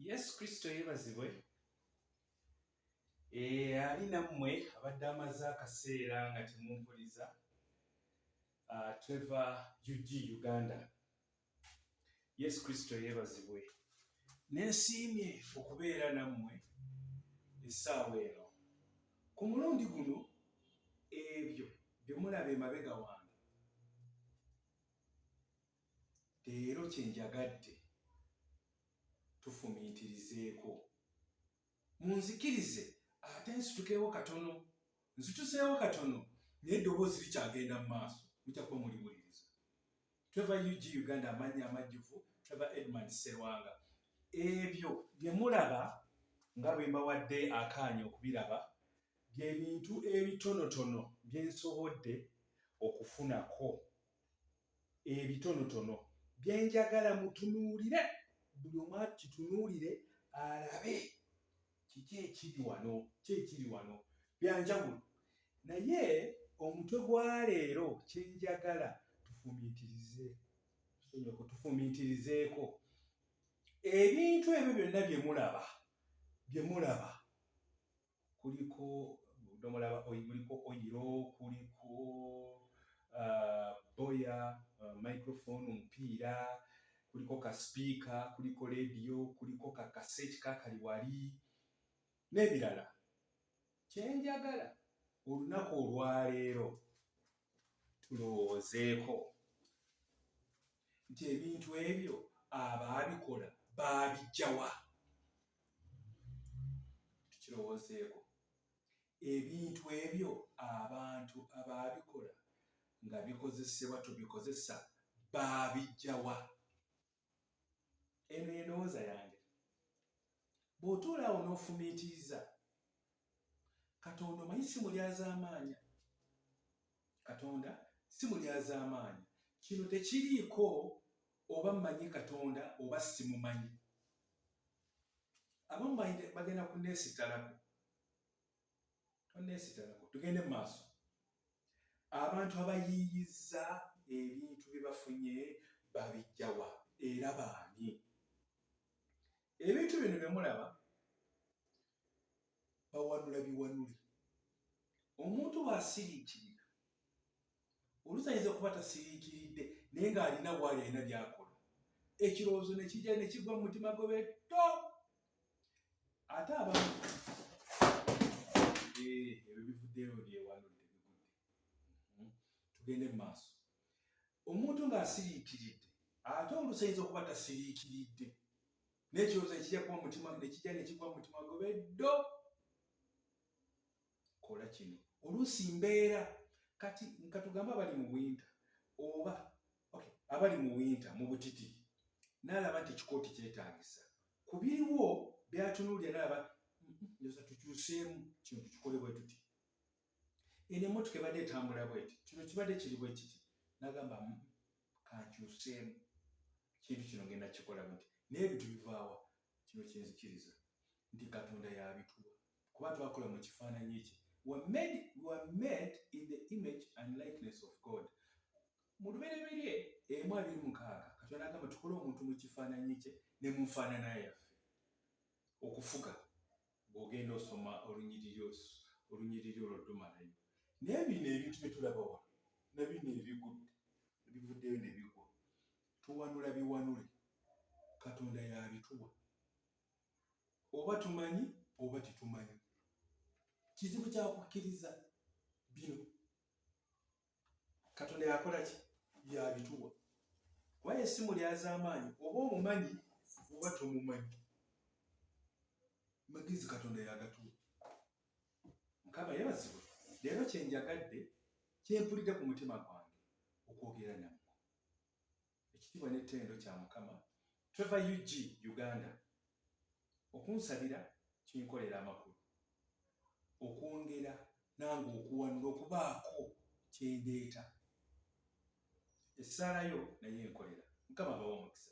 yesu kristo yebazibwe eh, ali nammwe abadde amaze akaseera nga temumpuliza ah, tweva ug uganda yesu kristo yebazibwe nensiimye okubeera nammwe essaawa eno ku mulundi guno ebyo byemulaba emabega wange leero kye njagadde tufumiitirizeeko. Munzikirize ate nsitukeewo katono, nzituseewo katono naye eddoboozi likyagenda mu maaso, mujja kuba muliwuliriza. Trevor UG Uganda amannya amajjuvu Trevor Edmund Sserwanga. Ebyo bye mulaba nga bwe mbawadde akaanya okubiraba bye bintu ebitonotono bye nsobodde okufunako. ebitonotono bye njagala mutunuulire, buli omu akitunuulire alabe kiki ekiri wano, ki ekiri wano bya njawulo. Naye omutwe gwa leero kye njagala tufumiitirize, tufumiitirizeeko ebintu ebyo byonna bye mulaba, bye mulaba. kuliko obudomola ba oil, kuliko oyiro kuliko uh, boya uh, microphone omupiira kuliko ka sipiika kuliko leediyo kuliko ka kaseti kakali wali n'ebirala kyenjagala olunaku olwaleero tulowoozeeko nti ebintu ebyo abaabikola baabijjawa tukirowoozeeko ebintu ebyo abantu abaabikola nga bikozesebwa tubikozesa baabijjawa eno endowooza yange bw'otuulaawo n'ofumiitiriza katonda omanyi si mulyazaamaanya katonda si mulyazaamaanya kino tekiriiko oba mmanyi katonda oba simumanyi abamu bagenda kuneesitalako toneesitalako tugende mu maaso abantu abayiiyizza ebintu bye bafunye babijjawa era baani ebintu bino bye mulaba bawanula biwanule omuntu bw'asiriikirira oluusi ayinza kuba tasiriikiridde naye ng'alina bwali alina byakola ekirowoozo ne kijja ne kigwa mu mutima gwe beto ate abamu eh, ebyo bivuddeyo byewanudde bigudde hmm? tugende mu maaso Omuntu ng'asiriikiridde ate oluusi ayinza okuba tasiriikiridde naye ekirowoozo ne kijja kuba mu mutima ne kijja ne kigwa mu mutima gwe be ddo kola kino oluusi mbeera kati nka tugambe abali mu winta oba okay, abali mu winta mu butiti n'alaba nti ekikooti kyetaagisa ku biriwo byatunuulira n'alaba njoza tukyuseemu kino tukikole bwe tuti eno emotoka ebadde etambula bweti kino kibadde kiri bwekiti nagamba mm, kankyuseemu kintu kino genda kikola bweti naye ebintu bivaawa kino kyenzikiriza nti katonda yabituwa kuba twakola mu kifaananyi kye were made, were made in the image and likeness of god mu lubereberye emu abiri mukaaga katonda agamba tukole omuntu mu kifaananyi kye ne mu nfaanana yaffe okufuga Bw'ogenda osoma olunyiriri osu, olunyiriri olwo tomalayo. Naye bino ebintu bye tulaba wano, na bino ebigudde, ebivuddeyo ne bigwa, tuwanula biwanule, Katonda y'abituwa. Oba tumanyi oba tetumanyi. Kizibu kya kukkiriza bino. katonda yakola ki yabituwa kubaye esimu lyazamaanyi oba omumanyi oba tomumanyi magezi katonda yagatuwa mukama yebazibwe leero kyenjagadde kyempulidde ku mutima gwange okwogera namu Ekitibwa ne tendo kya mukama Trevor UG Uganda okunsabira kinkolera amakulu okwongera nange okuwanula okubaako kyendeeta essaala yo naye enkolera mukama abawe omukisa.